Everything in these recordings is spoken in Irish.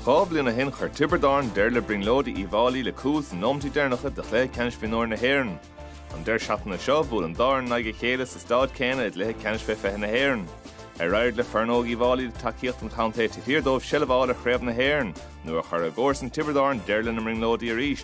Dhá bhliain ó shin chuir Tiobraid Árann deireadh le brionglóidí Uíbh Fháilí le cúl sna nóimeataí deireanacha de chluiche ceannais mhionúir na hÉireann. An deireadh seachtaine seo, bhuail an dá fhoireann in aghaidh a chéile sa stáid céanna i gcluiche ceannais fé 20 na hÉireann. Ar éirigh le foireann óg Uíbh Fháilí le tacaíocht an chontae taobh thiar dóibh seilbh a fháil ar chraobh na hÉireann nó ar chuir a gcomharsain Tiobraid Árann deireadh lena mbrionglóidí arís?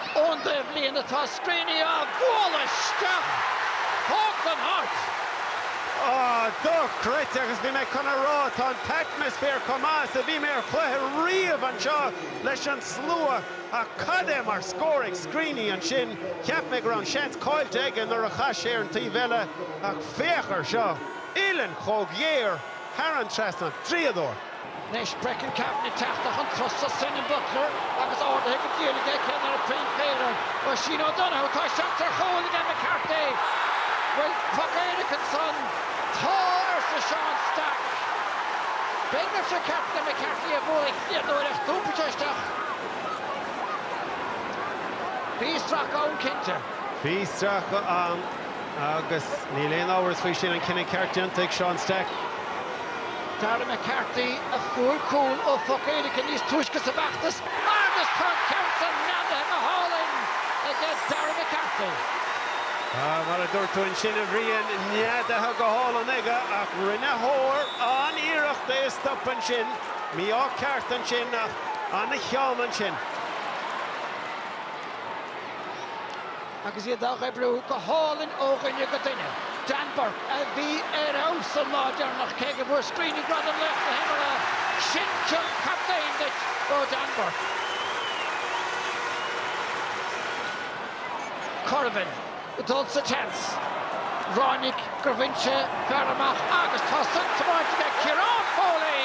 Ón dtaobhlíne atá Screeney á bhualadh isteach, thóg an hairt. Ó, dochreidte, agus bhí mé chun a rá, tá an t-atmaisféar chomh maith is a bhí mé ar chluiche riamh anseo leis an slua, ach cad é mar scór ag Screeney ansin, cheap mé go raibh an seans caillte aige nuair a chas sé ar an taobh eile, ach féach ar seo, uillinn chomh géar thar an trasnán, draíodóir. Anois Brecon Kavanagh teachta chun tosaigh Senan Butler agus ardaithe go diail aige ag ceannaire Chraobh Peile Oisín O'Donoghue, tá seans ar chúl aige McCarthy! Bhfuil poc éirice ansan? Tá! arsa Seán Stack. Beidh mé fre ceart le McCarthy a bhuaigh a chéad uair ach d'iompaigh sé isteach. Bhí stracadh ann cinnte. Bhí stracadh ann. Agus níl aon amhras faoi sin, an cinneadh ceart déanta ag Seán Stack. Darragh McCarthy a fuair cúl ó phoc éirice níos túisce sa bhfeachtas agus tá an ceann san neadaithe go hálainn ag Darragh McCarthy. Mar a dúirt tú ansin, a Bhriain, neadaithe go hálainn aige ach rinne Hoare an-iarracht é a stopadh ansin. Mí-ádh ceart ansin ach an-cheann ansin. agus iad á oibriú go hálainn ó dhuine go duine. Dan Bourke a bhí ar fheabhas an lá deireanach, cé go bhfuair Screeney Gradam Laoch na hImeartha. Sin cion captaein duit ó Dan Bourke. Currivan, dul sa tseans. Ráinig gur bhain sé fear amach agus tá san tiomáinte ag Ciarán Foley!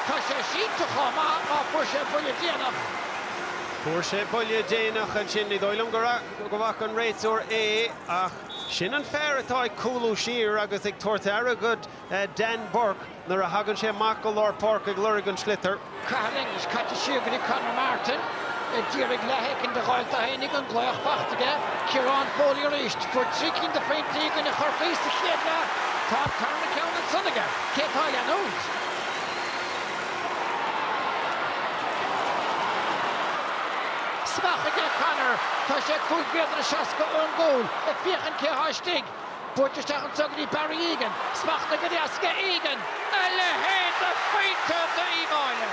Tá sé sínte chomh maith mar fuair sé buille déanach. Fuair sé buille déanach ansin. Ní dóigh liom go bhfaca an réiteoir é ach sin an fear atá ag cúlú siar agus ag tabhairt aire do Dan Bourke nuair a thagann sé amach go lár páirce ag lorg an tsliotair. Cathal English caite siar go dtí Conor Martin. Ag d'iarraidh leath éicint de Ghael Taha Oinigh, an glaoch faighte aige. Ciarán Foley arís. Fuair trí cinn de phointí i gcoinne Chorcaí sa chéad leath. Tá an tarna ceann ansan aige. Cé atá ag leanúint? Smeach ag O'Connor. Tá sé cúig mhéadar is seasca ón gcúl, ag féachaint cé atá istigh. Buailte isteach anseo go dtí Barry Egan. Smachtaithe go deas aige Egan. A leithéid de phointe d'Uíbh Fháilí!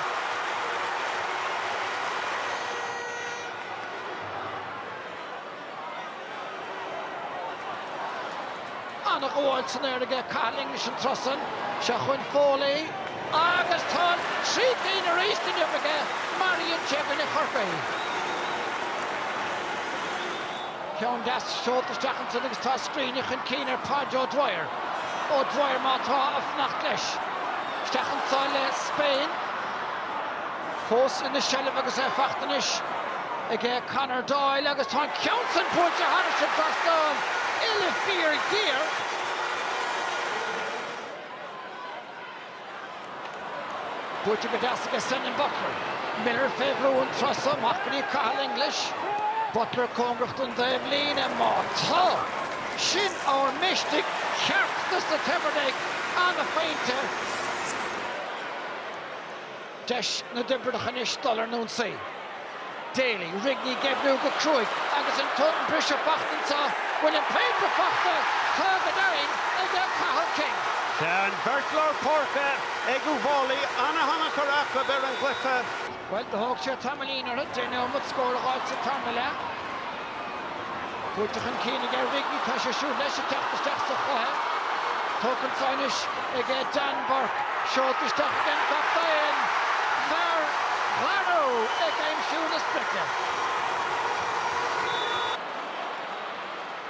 Ana ghabháil san aer aige, Cathal English an turas san. Seo chugainn Foley agus tá trí cinn arís inniu aige, mar a dhein sé i gcoinne Chorcaí. Ceann deas seolta isteach ansin agus tá Screeney chun cinn ar Podge O'Dwyer. O'Dwyer má tá ag fanacht leis. Isteach anso le Spain. Fós ina sheilbh agus é faighte anois aige Conor Doyle agus tá an ceann sin buailte thar an trasnán, uille fíorghéar. Buaite go deas aige Senan Butler. Miller fé bhrú an turas so, amach go dtí Cathal English. Butler cóngarach don dtaobhlíne, má tá! Sin ár mistic cheart do sa Taibhdhearc, an-phointe. Deis na dTiobraidach anois dul ar an ionsaí. Daly, Rigney ag oibriú go cruaidh agus tá an briseadh faighte anseo, bhfuil an pointe faighte? Tá go deimhin aige Cathal King. Tá an bheirt lár páirce ag Uíbh Fhailí an-thionchar acu ar an gcluiche. Bhuel, do thóg sé tamaillín orthu deich neomat scór a dh'fháilt sa tarna leath. Buailte chun cinn aige Rigney, tá sé siúd leis ag teacht isteach sa chluiche. Tógtha anseo anois aige Dan Bourke, seolta isteach ag an gcaptaen, fear Dharú ag aimsiú na sprice.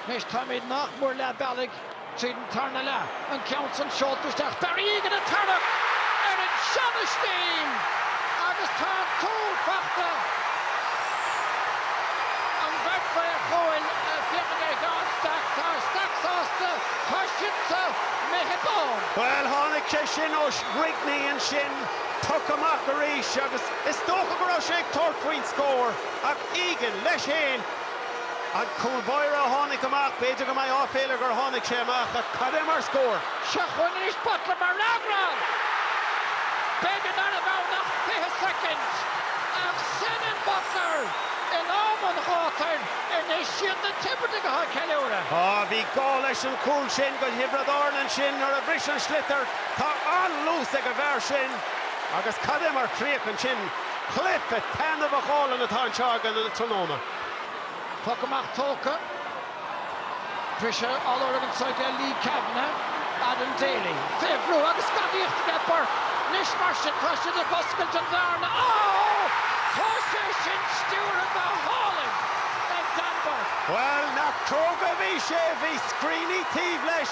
Anois táimid nach mór leath bealaigh. Tríd an tarna leath, an ceann san seolta isteach, Barry Egan ag tarrac ar an seana stíl agus tá an cúl faighte. An bheirt mhaor cúil ag féachaint ar Sheán Stack, tá Stack sásta, tá siamsa méithe ann. Bhuel, tháinig sé sin ó Rigney ansin, poc amach arís agus is dócha go raibh sé ag tabhairt faoin scór ach Egan, leis féin, An cúl báire a tháinig amach, b'fhéidir go mbeidh áiféala air gur tháinig sé amach, ach cad é mar scór! Seo chugainn arís Butler mar fhreagra! B'fhéidir ná raibh ann ach 20 soicind, ach Senan Butler in am an ghátair anois. Siad na Tiobradaigh atá ag ceiliúradh. Á, bhí gá leis an chúl sin do Thiobraid Árann ansin nuair a bhris an sliotar. Tá an-luas ag an bhfear sin. Agus cad é mar chríoch ansin. Cluiche taitneamhach álainn atá anseo againn an tráthnóna. Poc amach tógtha. Briseadh á lorg anseo aige Leigh Kavanagh, Adam Daly. Fé bhrú agus gadaíocht aige Bourke. Anois mar sin tá siad ag oscailt an bhearna. Oh! Tá sé sin stiúrtha go hálainn ag Dan Bourke. Bhuel, nach cróga a bhí sé. Bhí Screeney taobh leis.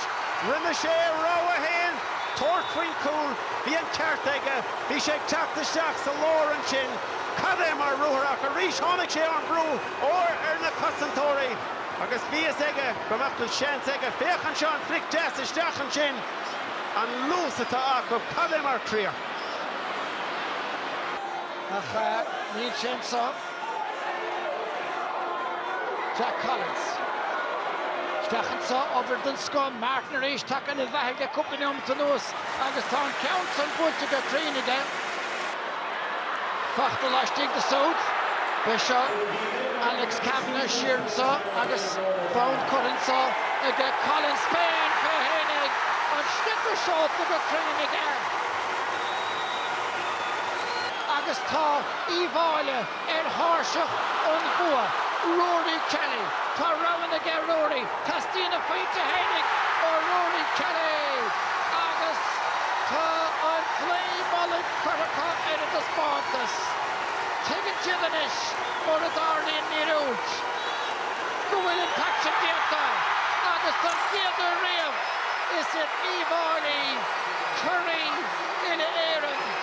Rinne sé a rogha fhéin, tabhairt faoin chúl. Bhí an ceart aige. Bhí sé ag teacht isteach sa lár ansin. Cad é mar ruathar ach arís tháinig sé ón bhrú óir ar na cosantóirí agus bhí fhios aige go mbeadh seans aige. Féach anseo an flic deas isteach ansin. An luas atá acu. Cad é mar chríoch. Ach níl sé anseo. Jack Collins. Isteach anseo, obair den scoth, Martin arís tagtha ina bheathaigh le cúpla neomat anuas agus tá an ceann san buailte go cruinn aige. Fachta laistiar de siúd. Beidh seo Alex Kavanagh siar anseo agus fabhar curtha anseo ag Collins féin fé fhéinig, an sliotar seolta go cruinn aige agus tá. Uíbh Fháilí ar thairseach an bhua, Rory Kelly. Tá roghanna aige, Rory. Teastaíonn a phointe fhéinig ó Rory Kelly agus tá an claí mullaigh curtha acu ar an taispeántas. Tuigeann siad anois, mura dtarlaíonn míorúilt, go bhfuil an t-aicsean déanta agus don chéad uair riamh, is iad Uíbh Fháilí curaidh na hÉireann.